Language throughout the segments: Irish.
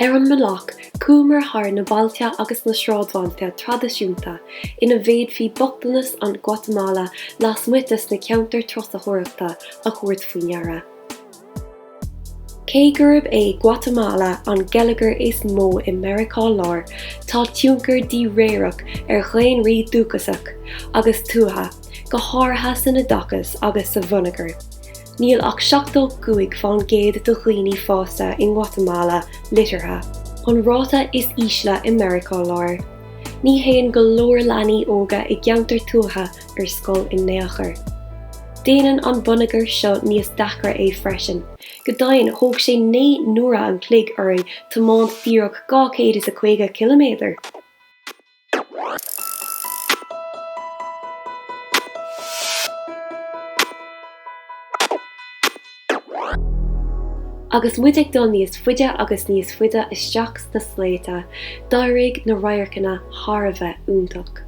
Ar an mbealach, chuamar thar na bailte agus na sráidbhailte traidisiúnta ina bhféadfaí bochtanas an Ghuatamala lasmuigh de sna ceantair turasóireachta a thabhairt faoi deara. Cé gurb é Guatamala an geilleagar is mó i Meiriceá Láir, tá tionchar díréireach ar dhaonraí dúchasach agus tuaithe, go háirithe san oideachas agus sa bhonneagar. Níl ach seachtó cúig fán gcéad de dhaoine fásta i nGuatamala liteartha, an ráta is ísle i Meiriceá Láir. Ní théann go leor leanaí óga i gceantair tuaithe ar scoil in aon chor. Déanann an bonneagar seo níos deacra é freisin. Go deimhin, thóg sé naoi n-uaire an chloig orainn tiomáint díreach dhá chéad is a caoga ciliméadar! Agus muid ag dul níos faide agus níos faide isteach sna sléibhte, d'éirigh na radharcanna thar a bheith iontach.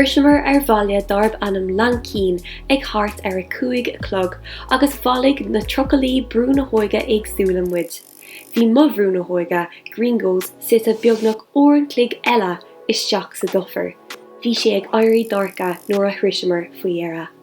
Shroiseamar ar bhaile dárb ainm Lanquín ag thart ar a cúig a chlog agus bhailigh na trucaillí Brú na hÓige éagsúla muid. Bhí mo Bhrú na hÓige, Gringos, suite beagnach uair an chloig eile isteach sa dufair. Bhí sé ag éirí dorcha nuair a shroiseamar faoi dheireadh.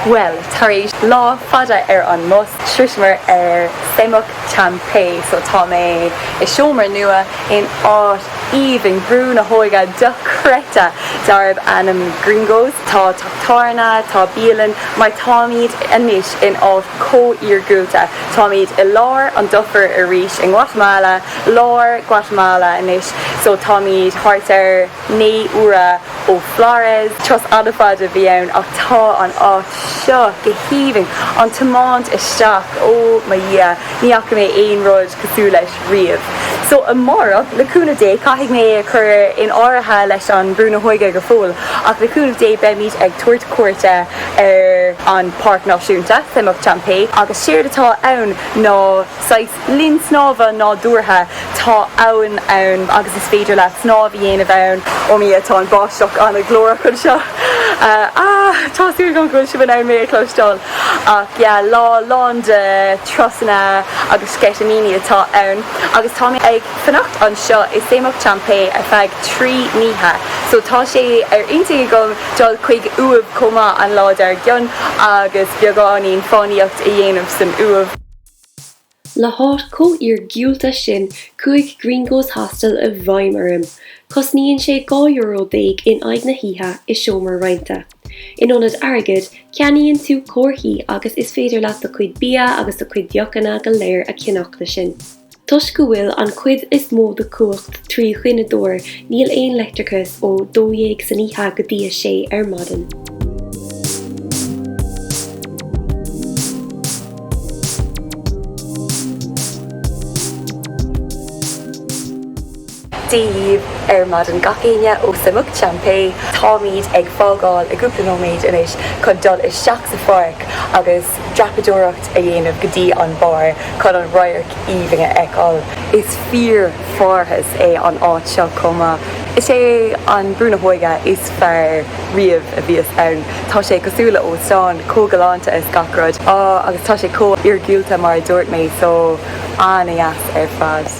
Bhuel, tar éis lá fada ar an mbus, shroiseamar ar Semuc Champey, so tá mé i seomra nua in áit aoibhinn Bhrú na hÓige dochreidte darb ainm Gringos. Tá teach tábhairne, tá bialann, mar táimid anois in áit chomh iargúlta. Táimid i lár an dufair arís i nGuatamala, lár Guatamala anois. So táimid thart ar naoi uaire ó Flores. Turas fada fada a bhí ann ach tá an áit seo go haoibhinn. An tiomáint isteach, oh mo dhia, ní fhaca mé aon rud cosúil leis riamh. So amárach, le cúnamh Dé, caithfidh mé a chur in áirithe leis an Brú na hÓige go fóill, ach le cúnamh Dé beimid ag tabhairt cuairte ar an Pháirc Náisiúnta Semuc Champey agus séard atá ann ná saghas linn snámha nádúrtha. Tá abhainn ann agus is féidir leat snámh a dhéanamh ann. Ó mo Dhia tá an báisteach an-ghlórach anseo. Aah tá súil agam go bhfuil sibh in ann mé a chloisteáil. Ach yeah lá lán de turasanna agus sceitimíní atá ann agus tá mé ag. fanacht anseo i Semuc Champey ar feadh trí n-oíche so tá sé ar intinn agam dul chuig Uaimh chomh maith an lá dar gcionn agus beagáinín fánaíocht a dhéanamh san Uaimh. Le háit chomh iargiúlta sin chuaigh Gringo's Hostel i bhfeidhm orm. Cosnaíonn sé dhá euro déag in aghaidh na hoíche i seomra roinnte. In ionad airgid, ceannaíonn tú comharthaí agus is féidir leat do chuid bia agus do chuid deochanna go léir a cheannach le sin. Toisc go bhfuil an cuid is mó den chumhacht trí ghineadóir níl aon leictreachas ó dó dhéag san oíche go dtí a sé ar maidin. Dia daoibh ar maidin, gach éinne ó Semuc Champey. Táimid ag fágáil i gcúpla nóiméad anois chun dul isteach sa pháirc agus dreapadóireacht a dhéanamh go dtí an barr chun an radharc aoibhinn a fheiceáil. Is fíor pharthas é an áit seo chomh maith. Is é an Brú na hÓige is fearr riamh a bhíos ann. Tá sé cosúil le hóstán, chomh galánta is gach rud. agus tá sé chomh iargúlta mar a dúirt mé, so an-deas ar fad.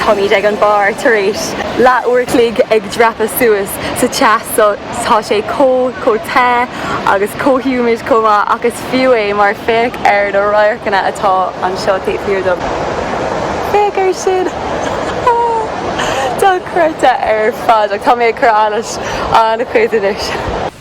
Táimid ag an mbarr tar éis leath uair a chloig ag dreapadh suas sa teas so tá sé chomh, chomh te agus chomh humid chomh maith ach is fiú é mar féach ar na radharcanna atá anseo taobh thiar dom. Féach ar sin! Dochreidte ar fad ach tá mé ag cur allais an-chuid anois.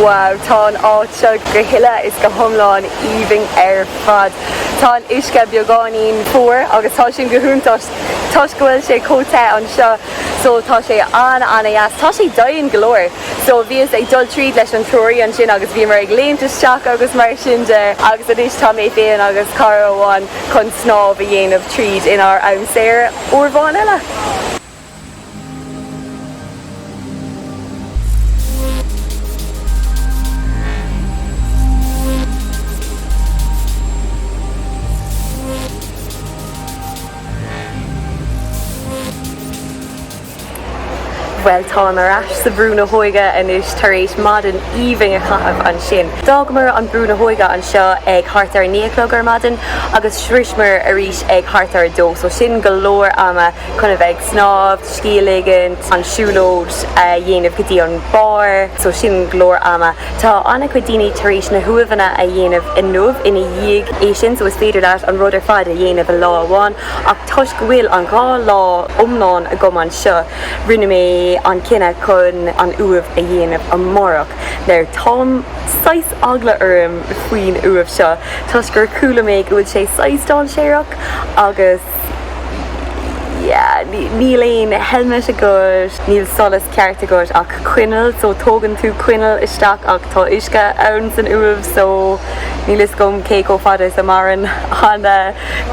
Wow, tá an áit seo go huile 's go hiomlán aoibhinn ar fad. Tá an uisce beagáinín fuar agus tá sin go hiontach toisc go bhfuil sé chomh te anseo so tá sé an-an-deas. Tá sé domhain go leor so bhíos ag dul tríd leis an treoraí ansin agus bhíomar ag léimt isteach agus mar sin de agus anois tá mé féin agus cara amháin chun snámh a dhéanamh tríd inár am saor uair amháin eile. Bhuel, táim ar ais sa Bhrú na hÓige anois tar éis maidin aoibhinn a chaitheamh ansin. D'fhágamar an Brú na hÓige anseo ag thart ar a naoi a chlog ar maidin agus shroiseamar arís ag thart ar a dó, so sin go leor ama. chun a bheith ag snámh, scíth a ligint, an siúlóid a dhéanamh go dtí an barr, so sin go leor ama. Tá an-chuid daoine tar éis na huaimheanna a dhéanamh inniu ina dhiaidh é sin so is féidir leat an rud ar fad a dhéanamh i lá amháin ach toisc go bhfuil an dhá lá iomlán agam anseo rinne mé an cinneadh chun an uaimh a dhéanamh amárach. Now táim saghas eagla orm faoin uaimh seo toisc gur chuala mé go bhfuil sé saghas dainséarach agus Níl aon helmet agat, níl solas ceart agat ach coinneal so tógann tú coinneal isteach ach tá uisce ann san uaimh so níl 'fhios agam cé chomh fada is a maireann an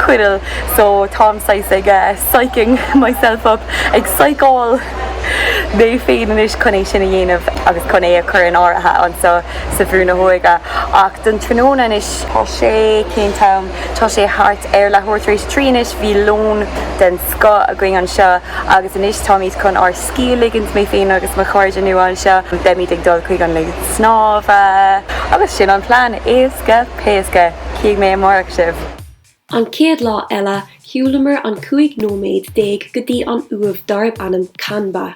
coinneal so táim saghas ag psyching myself up, ag psyceáil mé féin anois chun é sin a dhéanamh agus chun é a chur in áirithe anseo sa Bhrú na hÓige ach don tráthnóna anois tá sé, cén t-am? Tá sé thart ar leathuair tar éis trí anois, bhí lón den scoth againn anseo agus anois táimid chun ár scíth a ligint, mé féin agus mo chairde nua anseo, beimid ag dul chuig an linn snámha agus sin an plean, éasca péasca! Cífidh mé amárach sibh! An chéad lá eile, shiúlamar an 15 nóiméad go dtí an uaimh darb ainm Kanba.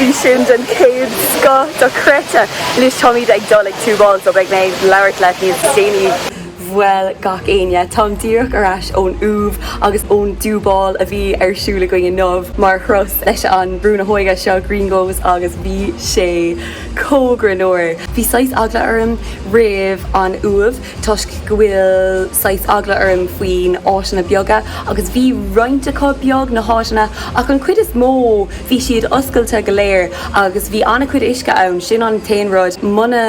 Bhí sin den chéad scoth dochreidte. Anois táimid ag dul ag túbáil so beidh mé ag labhairt leat níos déanaí. Bhuel gach éinne, táim díreach ar ais ón uaimh agus ón dtúbáil a bhí ar siúl againn inniu mar thuras leis an Brú na hÓige seo, Gringos, agus bhí sé chomh greannmhar. Bhí saghas eagla orm roimh an uaimh. toisc go bhfuil saghas eagla orm faoin áiteanna beaga agus bhí roinnt acu beag, na háiteanna, ach an cuid is mó bhí siad oscailte go leor agus bhí an-chuid uisce ann, sin an t-aon rud, muna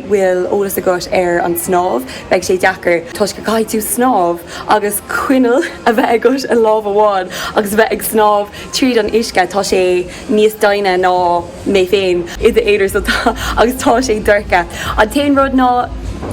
bhfuil eolas agat ar an snámh beidh sé deacair toisc go caithfidh tú snámh agus coinneal a bheith agat i lámh amháin agus bheith ag snámh tríd an uisce, tá sé. níos doimhne ná mé féin. N'fheadar so tá, agus tá sé dorcha. An t-aon rud ná,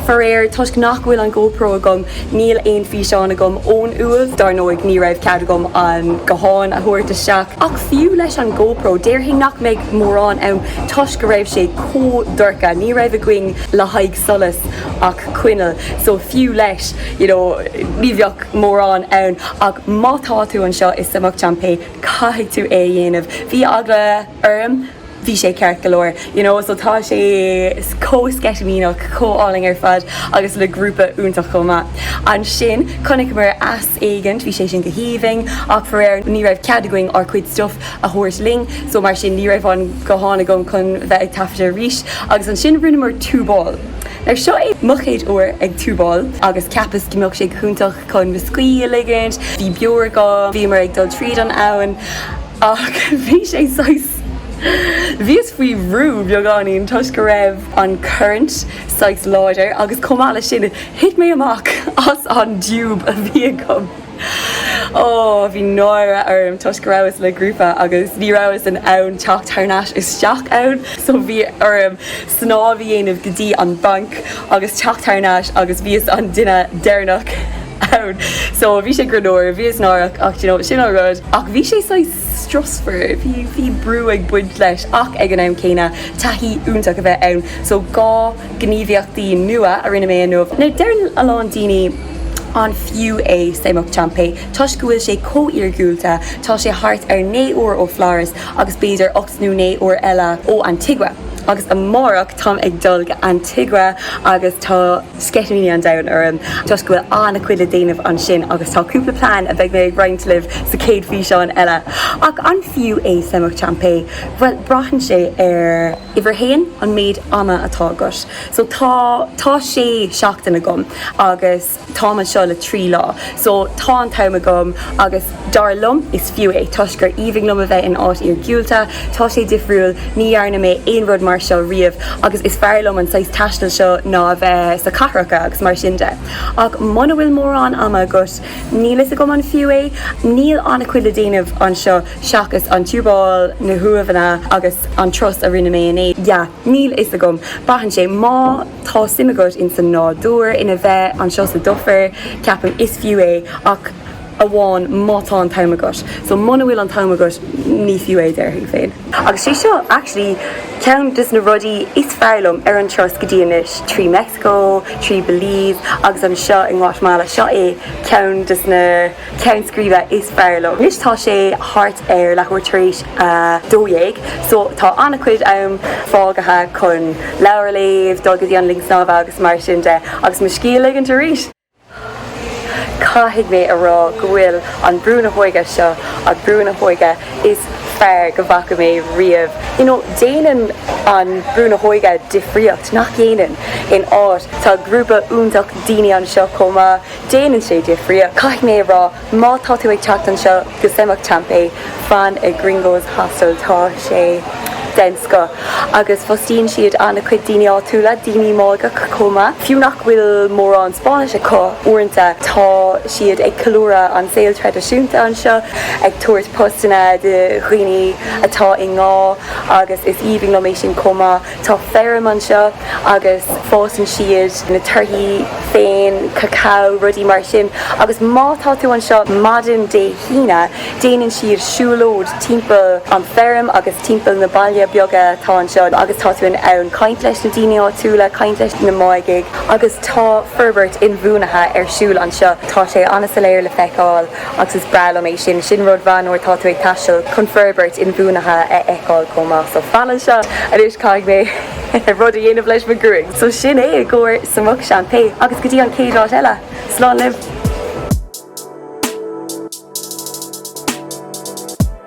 faraor, toisc nach bhfuil an GoPro agam, níl aon físeáin agam ón uaimh. Dar ndóigh, ní raibh cead agam an guthán a thabhairt isteach. Ach fiú leis an GoPro, déarfainn nach mbeidh mórán ann toisc go raibh sé chomh dorcha. Ní raibh againn le haghaidh solas ach coinneal, so fiú leis, you know, ní bheadh mórán ann. Ach má tá tú anseo i Semuc Champey, Caithfidh tú é a dhéanamh. Bhí eagla orm. Bhí sé ceart go leor, you know, so tá sé chomh sceitimíneach, chomh álainn ar fad agus le grúpa iontach chomh maith. Ansin, chonaiceamar eas éigint, bhí sé sin go haoibhinn ach faraor ní raibh cead againn ár gcuid stuff a thabhairt linn so mar sin ní raibh an guthán agam chun bheith ag taifeadadh arís agus ansin rinneamar túbáil. Now seo é mo chéad uair ag túbáil agus cheapas go mbeadh sé go hiontach. Chun mo scíth a ligint, bhí beoir agam, bhíomar ag dul tríd an abhainn ach bhí sé saghas, bhíos faoi bhrú beagáinín toisc go raibh an current saghas láidir agus chomh maith leis sin, thit mé amach as an dtúb a bhí agam. Ó, bhí náire orm toisc go rabhas le grúpa agus ní rabhas in ann teacht thar n-ais isteach ann so bhí orm snámh a dhéanamh go dtí an banc agus teacht thar n-ais agus bhíos an duine deireanach ann so bhí sé greannmhar, bhíos náireach ach do you know sin an rud ach bhí sé saghas strusmhar, bhí bhí brú ag baint leis ach ag an am céanna taithí iontach a bheith ann so dhá ghníomhaíochtaí nua a rinne mé inniu. Now deireann a lán daoine an fiú é Semuc Champey toisc go bhfuil sé chomh iargúlta tá sé thart ar naoi uair ó Flores agus b'fhéidir ocht nó naoi uair eile ó Antigua agus amárach táim ag dul go Antigua agus tá sceitimíní an domhain orm toisc go bhfuil ana chuid le déanamh ansin agus tá cúpla plean a bheidh mé ag roinnt libh sa chéad físeán eile. Ach an fiú é Semuc Champey? Bhuel braitheann sé ar uimhir a haon, an méid ama atá agat. So tá tá sé seachtaine agam agus Táim anseo le trí lá so tá an t-am agam agus dar liom is fiú é toisc gur aoibhinn liom a bheith in áit iargiúlta. Tá sé difriúil, ní dhearna mé aon rud mar seo riamh agus is fearr liom an saghas taistil seo ná a bheith sa cathracha agus mar sin de. Ach muna bhfuil mórán ama agat, níl fhios agam an fiú é? Níl an-chuid le déanamh anseo seachas an túbáil, na huaimheanna agus an turas a rinne mé inné. Yeah, níl fhios agam. Braitheann sé. Má. Tá suim agat ins an nádúr, ina bheith anseo sa dufair, ceapaim. Is fiú é, ach amháin má tá an t-am agat. So, muna bhfuil an t-am agat, ní fiú é, déarfainn féin. Agus sé seo, actually, ceann des na rudaí is fearr liom ar an turas go dtí anois, trí Meicsiceo, trí Belize, agus anseo i nGuatamala. Seo é ceann des na. ceann scríbe is fearr liom. Anois tá sé thart ar leathuair tar éis a dó dhéag so tá an-chuid am fágtha chun leabhar a léamh, dul go dtí an linn snámha agus mar sin de agus mo scíth a ligint arís! Caithfidh mé a rá go bhfuil an Brú na hÓige seo an Brú na hÓige is fearr go bhfaca mé riamh. You know, déanann an Brú na hÓige difríocht, nach dhéanann? In áit, tá grúpa iontach daoine anseo chomh maith, Déanann sé difríocht, caithfidh mé a rá, má tá tú ag teacht anseo go Semuc Champey, fan ag Gringos Hostel, tá sé den scoth agus fostaíonn siad an-chuid daoine áitiúla, daoine Máigeacha chomh maith. Fiú nach bhfuil mórán Spáinnis acu, uaireanta tá siad ag ceiliúradh an saol traidisiúnta anseo, ag tabhairt postanna do dhaoine atá i ngá agus is aoibhinn liom é sin chomh maith. Tá feirm anseo agus fásann siad na torthaí féin, cacao, rudaí mar sin agus má tá tú anseo maidin Dé hAoine déanann siad siúlóid timpeall an feirm agus timpeall na baile beaga atá anseo agus tá tú in ann caint leis na daoine áitiúla, caint leis na Máigigh agus tá forbairt inbhuanaithe ar siúl anseo. Tá sé an-soiléir le feiceáil. agus is breá liom é sin. Sin rud mhaith nuair atá tú ag taisteal chun forbairt inbhuanaithe a fheiceáil chomh maith. So fan anseo anois caithfidh mé rud a dhéanamh leis mo gruaig. So sin é i gcomhair Semuc Champey agus go dtí an chéad áit eile, slán libh!